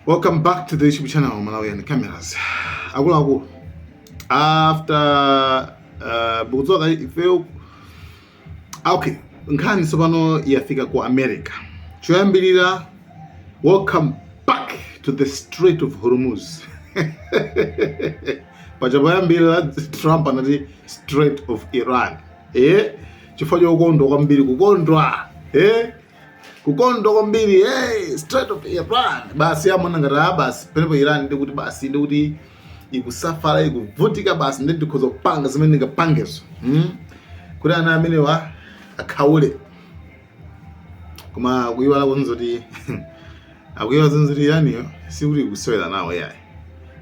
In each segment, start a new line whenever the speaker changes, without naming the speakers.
Welcome back to the YouTube channel Malawian Cameras. Akuluakulu after uh, takudzuka ifeyo okay nkhani tsopano yafika ku America choyambirira welcome back to the Strait of Hormuz paja poyambirira Trump anati Strait of Iran eh chifukwa chokondwa kwambiri kukondwa eh kukondwa kwambiri hey, Strait of Iran basi amona ngati ah basi penepo Iran nde kuti basi nde kuti ikusafala ikuvutika basi nde ndikhoza kupanga zimene ndingapangezo hmm? kuti ana amenewa akhaule koma kuyiwala kuti zoti akuyiwala zoti Iraniyo sikuti kusewera nawo yayi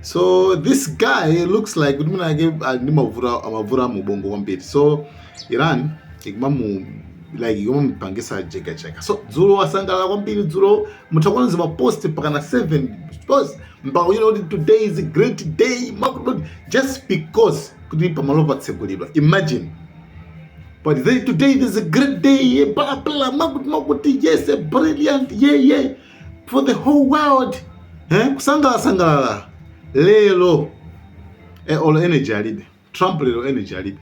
so this guy looks like kuti mwinamwake ali ndi mavuto a mu ubongo kwambiri so iran ikumamu like ikumamupangisa jekacheka so dzulo wasangalala kwambiri dzulo mutakaona zimapost mpakana 7 post mpaka kuchita kuti today is a great day makuti just because kuti pamalopo patsegulidwa imagine But they, today it is a great day, yeah, blah, blah, makuti, makuti, yes, a brilliant, yeah, yeah, for the whole world. Eh? Kusangalala, sangalala. Lero, eh, all energy alibe. Trump lero energy alibe.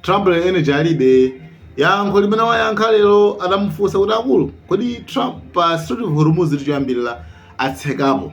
Trump lero energy alibe. Yankho limene wayankha lero adamufunsa kuti akulu, kodi Trump pa Strait of Hormuz tichoyambirira atsekapo.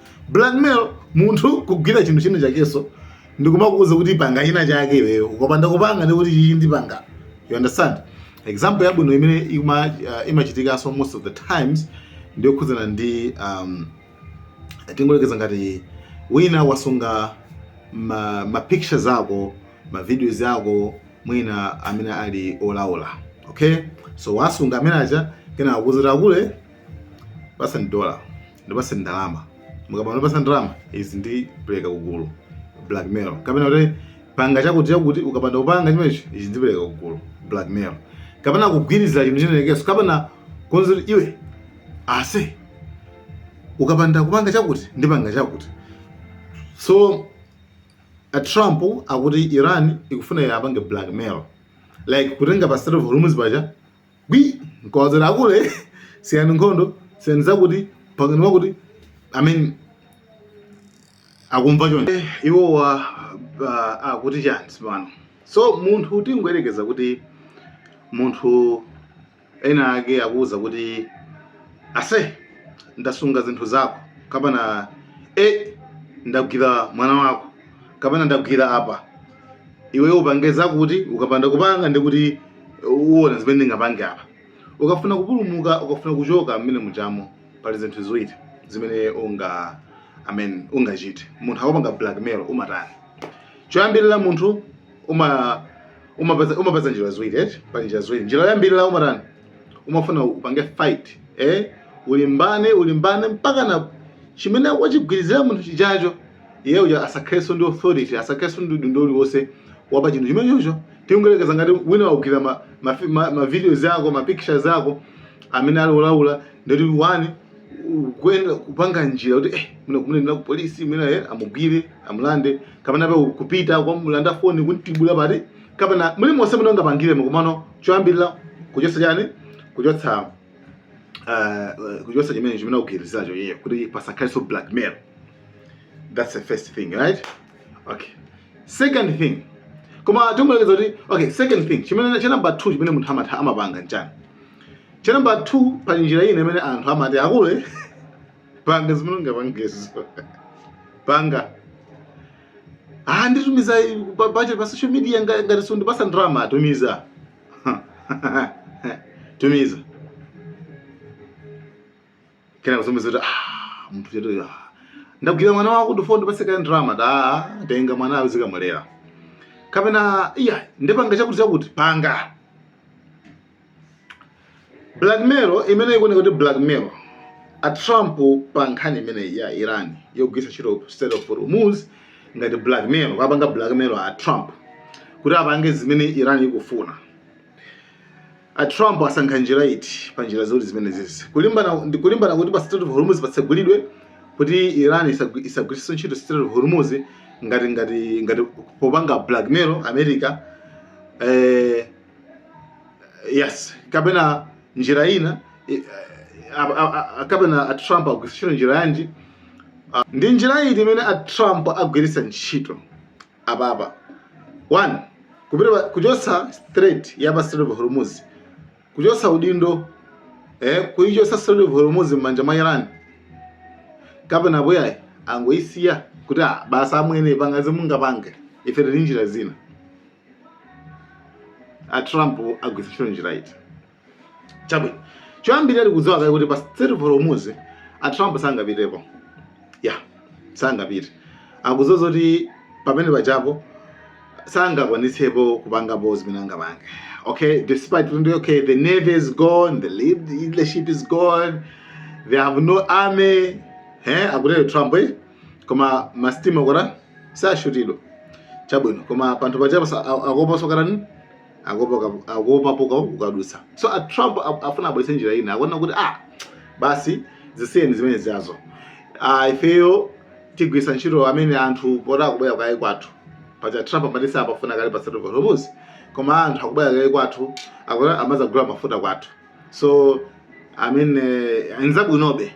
Blackmail munthu kugwira chinthu china chakenso ndikumakuuza kuti panga china chake iweyo ukapanda kupanga ndi kuti chichi ndipanga. You understand? Example yabwino imene ima, uh, imachitikanso most of the times ndiyokhudzana ndi um, tingoyerekeza ngati wina wasunga ma, ma pictures ako ma videos ako mwina amene ali olaula okay so wasunga amene aja kenaka akuuza kuti akulu tipatseni dola ndipatseni ndalama mukapanda kundipatsa ndalama izi ndipereka kugulu blackmail kapena kuti panga chakuti chakuti ukapanda kupanga chimenechi ichi ndipereka kugulu blackmail kapena kugwirizira chinthu chinachakenso kapena kukuuza iwe ase ukapanda kupanga chakuti ndipanga chakuti so a trump akuti iran ikufuna iwapange blackmail like kutenga pa Strait of Hormuz paja nkuwauza akulu siyani nkhondo siyani zakuti pangani zakuti i mean akumva choncho Eh, iwowa ah, akuti chani sipano so munthu tingoyerekeza kuti munthu wina wake akukuwuza kuti ase ndasunga zinthu zako kapena e ndagwira mwana wako kapena ndagwira apa iwe upange zakuti ukapanda kupanga ndikuti uona zimene ndingapange apa ukafuna kupulumuka ukafuna kuchoka mmene mujamo pali zinthu ziwiri zimene unga amen ungachite munthu akupanga blackmail umatani choyambirira munthu uma umapeza umapeza njira ziwiri eti pali njira ziwiri njira yoyambirira umatani umafuna upange fight eh ulimbane ulimbane mpaka na chimene wachigwirizira munthu chijacho iye uja asakhalenso ndi authority asakhalenso ndi udindo uliwonse wapa chinthu chimenecho tingoyerekeza ngati wina wagwira ma, ma, ma, ma videos ako ma pictures ako amene ali olaula ndoti wani kuenda kupanga njira kuti eh mwina kumunenera ku polisi mwina eh amugwire amulande kapena pa kupita kukamulanda foni kuntibula pati kapena muli monse mungapangire komano choyambirira kuchotsa chani kuchotsa uh, kuchotsa chimene chimene akugwiriziracho iye kuti pasakhalenso blackmail that's the first thing right okay second thing koma tingoyerekeza kuti okay second thing chimene cha number 2 chimene munthu amapanga nchani cha number 2 pali njira ina imene anthu amati aku- eh panga zimene ungapangezo panga ah nditumiza pa budget pa social media nga- ngati sundipatsa ndalama tumiza tumiza kena kutumiza kuti ah munthu chetu ah ndagwira mwana wako ndufuna undipatse kaya ndalama da tenga mwana azikamulera kapena iya ndipanga chakuti chakuti panga blackmail imene ikuoneka kuti blackmail a Trump pa nkhani imeneyi ya Iran yogwiritsa ntchito Strait of Hormuz ngati blackmail akupanga blackmail a Trump kuti apange zimene Iran ikufuna a Trump asankha njira iti pa njira ziwiri zimenezi kulimbana kulimbana kuti pa Strait of Hormuz patsegulidwe kuti Iran isagwiritse ntchito Strait of Hormuz ngati ngati ngati popanga blackmail America eh yes kapena njira ina eh, a- a- a- a- kapena a trump agwiritsa ntchito njira yanji Ah, ndi njira iti imene a trump agwiritsa ntchito apapa one kupita kuchotsa Strait ya pa Strait of Hormuz kuchotsa udindo eh, kuichotsa Strait of Hormuz m'manja mwa Iran kapena poti ayi angoisiya kuti ah, basi amwene pangani zimungapange ife tili ndi njira zina a Trump agwiritsa ntchito njira iti chabwino choyambirira tikudziwa kale kuti pa Strait of Hormuz a Trump sangapitepo ya sangapite akudziwa zoti pamene pajapo sangakwanitsepo kupangapo zimene angapange okay despite kuti okay the navy is gone the lead- leadership is gone they have no army eh akutero Trump eh koma masitima kuti sashutidwa chabwino koma panthu pachapo sa- a- akuopa sokarani akuopa poti ukadutsa so a trump a- afuna abwerese njira ina akuona kuti ah basi zisiyeni zimene zazo ah, ifeyo tigwisa ntchito amene anthu poti akubwera kale kwathu pacha trump amatisa sapafuna kale pa Strait of hormuz koma anthu akubwera kale kwathu akuti amazagula mafuta kwathu so zimene nzabwinobe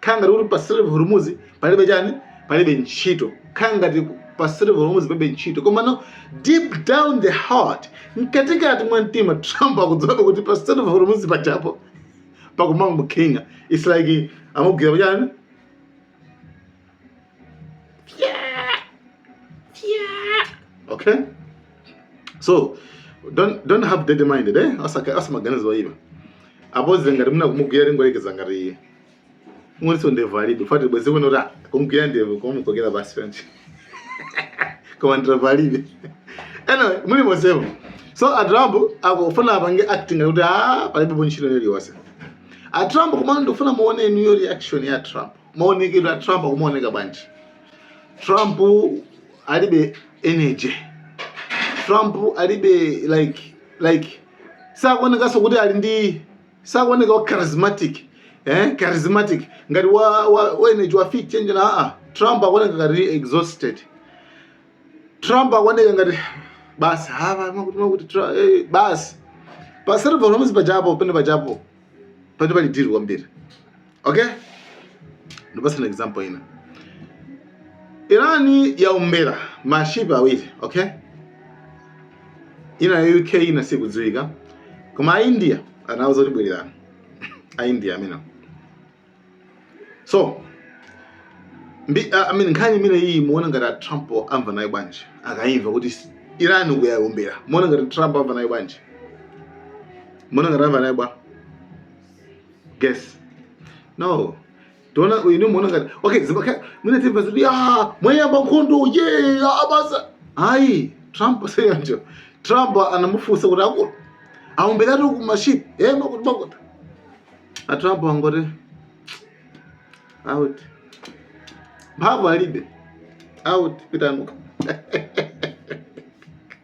khala ngati kuti
pa Strait of Hormuz palibe chani palibe ntchito khala ngati pa Strait of Hormuz palibe ntchito komano deep down the heart mkatikati mwa mtima Trump akudziwa kuti pa Strait of Hormuz pachapo pakumanga mukhinga it's like amugwira chani okay so don't don't have dead mind eh asakhale a maganizo oipa apo zangati mmene kumugwira kungoyerekeza ngati iye mwinanso ndevu alibe fati bwezi kunali kumugwira ndevu kumukokera basi fenchi koma ndevu alibe anyway muli mosevo so a trump akufuna apange acting kuti a palibepo ntchito iliyonse a trump komano ndikufuna muone new reaction ya trump maonekedwe a trump akumaoneka bwanji trump alibe energy trump alibe like like sakuonekanso kuti ali ndi sakuoneka wa charismatic eh? charismatic ngati wa, wa, wa energy wa fit change na aa trump akuoneka ngati exhausted trump akuoneka ngati basi hava makuti makuti Tra- eh, basi pa Strait of Hormuz pachapo pene pachapo pati pali deal kwambiri Okay? Ndipatsa an example ina. Iran yaombera maship awiri, okay? Ina ya UK ina siikudziwika. Koma a India anauza kuti bwererani. A India amene. So, mbi, uh, I mean, nkhani imene iyi muona ngati a Trump amva nayo bwanji akayimva kuti s- Iran uku yaombera muona ngati Trump amva nayo bwanji muona ngati amva nayo bwa guess no tiona muona ngati okay zibaka mwina timva zoti eya mwayamba nkhondo ye basi ayi trump seyanjo trump anamufunsa kuti akulu aomberatu uku maship e makuti makuti a trump angoti out mphamvu alibe out pitanuka